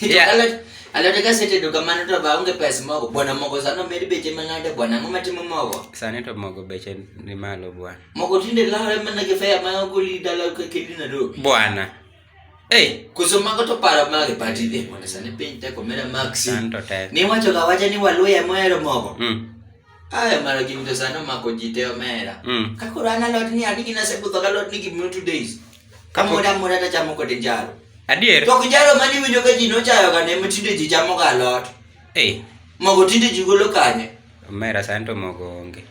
Yeah. Alot- alot ka setedo kamano to ba onge pes mogo bwana mogo sano med beche mang'ade bwana ang'o matimo mogo Sani to mogo beche ni malo bwana. mogo tinde lawre mana gi fea ma ogoli dala ka kendi na do Bwana. Hey, koso mago to paro mage pati dhi bwana sani piny teko mera maxi sani to tek. niwacho ga wacha ni waluya mohero mogo Mm. Aya mara gin to sano mako ji te omera. Mm. Ka koro an alot ni adi gina se budho galot ni gimno two days. Ka moda moda ta chamo kode njaro. Adier. To njaro mani winjo ka ji nochayo ga ne mtinde ji chamo ga alot. Eh. Mogo tinde ji golo kanye. Omera sani to mogo onge.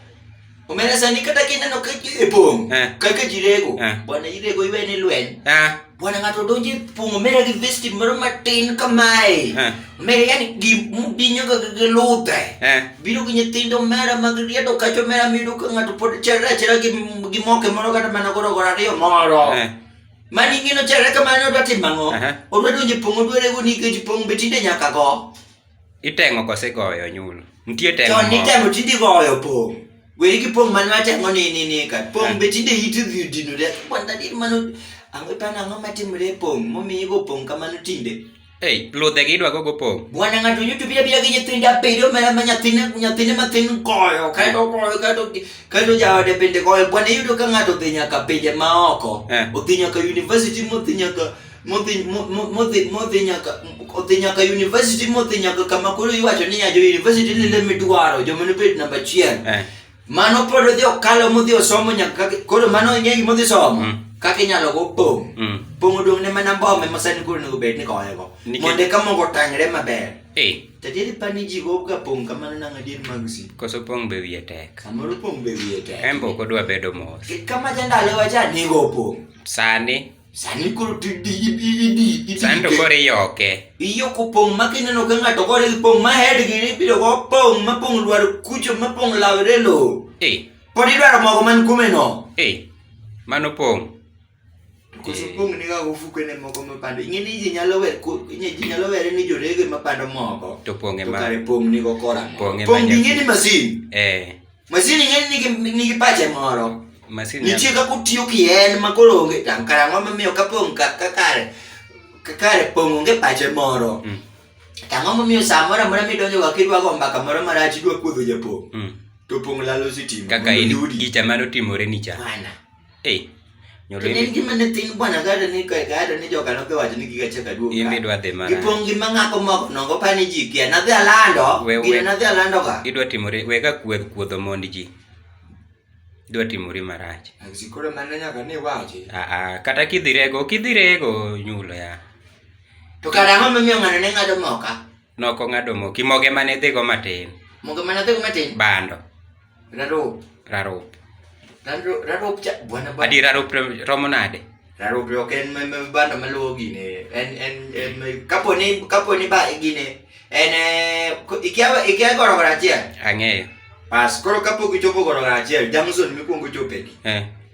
Omera sani kata kineno ka ji epong. Eh. Kaka ji rego. Eh. Bwana irego iwe ni lweny. Ah. Bwana ngato donje pungo mera gi vesti moro matin kamae. Eh. Mera yani gi dinyo ga gi lute. Eh. Biro gi nyithindo mera mag riedo kacho mera mido ka ngato pod chera chera gi gi moke moro kata mana goro goro ariyo moro. Eh. Mani ngino chera kamano dwa timango. Odwa donje pungo dwere go ni ke pungo betinde nyaka go. Iteng'o kose igoyo onyulo? Nitie teng'o Chon moko. nitemo tinde igoyo pong'. Weri gi pong' mane watemo ni ni ni ka. Pong' be tinde iti dhi odinore. Kwanda dir mano ang'o ipano ang'o matimore e pong' momiyo igo pong' kamano tinde. Ei, ludhe gi idwa gogo pong'. Bwana ng'ato yuto bira bira gi nyithinde abiriyo ma ma nyathine nyathine matin goyo kaeto goyo kaeto kaeto jaode bende goyo. Bwana iyudo ka ng'ato odhi nyaka pinje maoko. Eh. Odhi nyaka university modhi nyaka modhi modhi modhi nyaka odhi nyaka university modhi nyaka kama koro iwacho ni ya jo university ni le midwaro jo mano bet namba chien eh. mano pod odhi okalo modhi osomo nyaka koro mano ing'e gima odhi somo mm. kaka inyalo go pong mm. pong odong ne mana mbome ma sani koro nego bed ni koye go mondo eka mogo tangre maber eh. tadieri pa ni ji go ga pong kamano nang'a dier mag si koso pong be wiye tek samoro pong be wiye tek en be ok odwa bedo mos kama jandalo wacha nigo pong sani Sani koro ti ti idi idi idi. Sani to koro iyoke. Iyoko pong' ma kineno ka ng'ato gore gi pong' ma head gi ibiro go pong' ma pong' lwar kucho ma pong' lawre lo. Eh. Pod idwaro mogo man kume no. Eh. Mano pong'. Koso pong' ni ga ofuko ne mogo ma pando. Ing'e ni ji nyalo wer ko inye ji nyalo were ni jorege ma pando mogo. To pong' e ma. To kare pong' ni go kora. Pong' e ma. Pong' ing'e ni masin. Eh. Masini ng'eny nigi nigi pache moro. Masini. Nitie kaka otiyo ki en ma koro onge tam kara ang'o momiyo ka pong' ka ka kare ka kare pong' onge pache moro. Mm. To ang'o momiyo sa moro amora midonjo ga kidwa go mbaka moro marach idwa kuodho japong'. Mm. To pong' lalo sitima. Kaka in gicha mar otimore ni cha. Bana. Hey. Nyolini gi mane tin bwana gado ni ka gado ni joka noke wacho ni giga cheka duoka. Imbi dwa dhi mana. Ipong gi mangako mok nongo pani ji kia na dhi alando. Gire na dhi alando ka. Idwa timore wega kuodh kuodho mond ji. Idwa timore marach. Sikoro mane nyaka ni wache. Ah ah kata kidhirego kidhirego nyulo ya. To kara ng'ama miyo ng'ano ne ng'ado moka. Noko ng'ado moki moge mane dhigo matin. Moge mane dhigo matin. Bando. Rarope. Rarope. Rarope cha bwana bwana. Adi rarope romo nade? Rarope ok en me banda maluwo gine. En en en kapo ni kapo ni ba gine. En eh, ikiawa ikiawa goro goro achiel. Ang'eyo. Pas koro kapo gichopo goro goro achiel, Jamson mikuongo chopegi. Eh.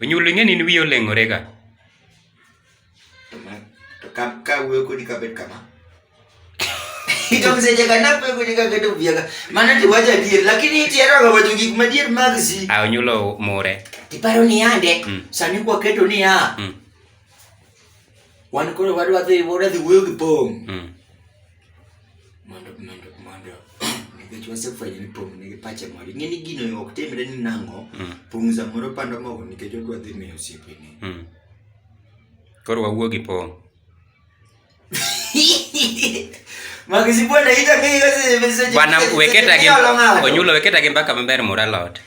Onyulo ing'e ni in wiyi oleng'ore ga. To ma- to ka ka wuoyo kodi kabet kama ikamseche kanape kodi kaketo biaga mana tiwacho adier lakini itieroga wacho gik madier mag si A onyulo mure. tiparo ni yande Mm. sani kwaketo niya Mm. wan koro wadwa dhi wadwa dhi wuoyo gi pong' mm. mondo mondo mondo nikech wasefwenyo ni pong' nigi pache moro ing'e ni gino ok timre ni nang'o mm. pong' samoro pando mogo nikech odwa dhi miyo osiepene mm. koro wawuo gi pong' bwana weketa gi onyulo weketa gi mbaka maber mura lot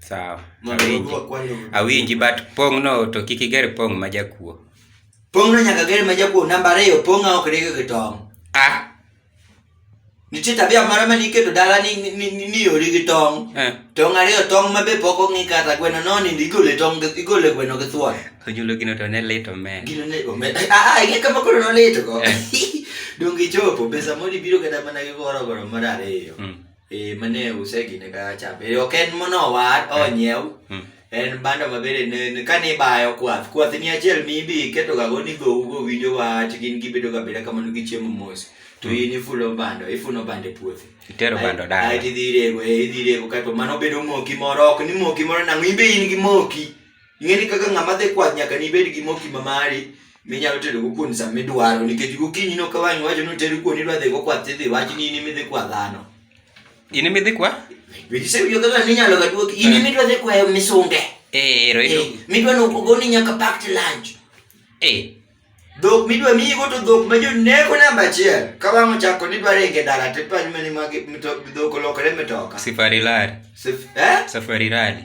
Sawa. Mondo Awinji. odwok kwano. Awinji but pong' no to kik iger pong' ma jakuo. Pong' no nyaka ger ma jakuo namba ariyo pong' ok rego gi tong'. Ah. Nitie tabia moro ma niketo dala ni ni- ni- ni ni ori gi tong'. Eh. Tong' ariyo tong' ma be pok ong'i kata gweno no nindo igole tong' gi- igole gweno gi thuon. Onyulo gino to ne lit omen. Gino ne omed. Ah ah ing'e kama koro nolito go. Eh. Donge ichopo pesa moro ibiro kata mana gi goro goro mar ariyo. Mm. Eh, mane use gine ka cham. Eh, ok en monowar, onyiew. Mm. En bando ma bende ne- ne- kane ibayo kwath. Kwath ni achiel mibi iketo ga go ni go go winjo wach gin gibedo ga beda kamano gi chiemo mos. To in ifulo bando, ifuno bando e puothi. Itero bando dala. Ai idhi rego, eh, idhi rego kato mano bedo moki moro, ok ni moki moro nang'o, in be in gi moki. Ing'eni kaka ng'ama dhi kwath nyaka nibed gi moki ma mari minyalo tedo go kuon sama idwaro nikech gokinyi no kawang' iwacho ni tedo kuon idwa dhi go kwath tidhi wach ni in imidhi kwa dhano in imidhi kwa bidise yo kaka ninyalo ga duoki in imidwa eh. dhi kwa misunge eh ero ero eh, midwa no goni nyaka pack to lunch eh dhok midwa miyi go to dhok ma joneko namba achiel ka wang' ochako ni dwaro inge dala to ipany mani mag dhok olokore mitoka safari lari eh? safari rali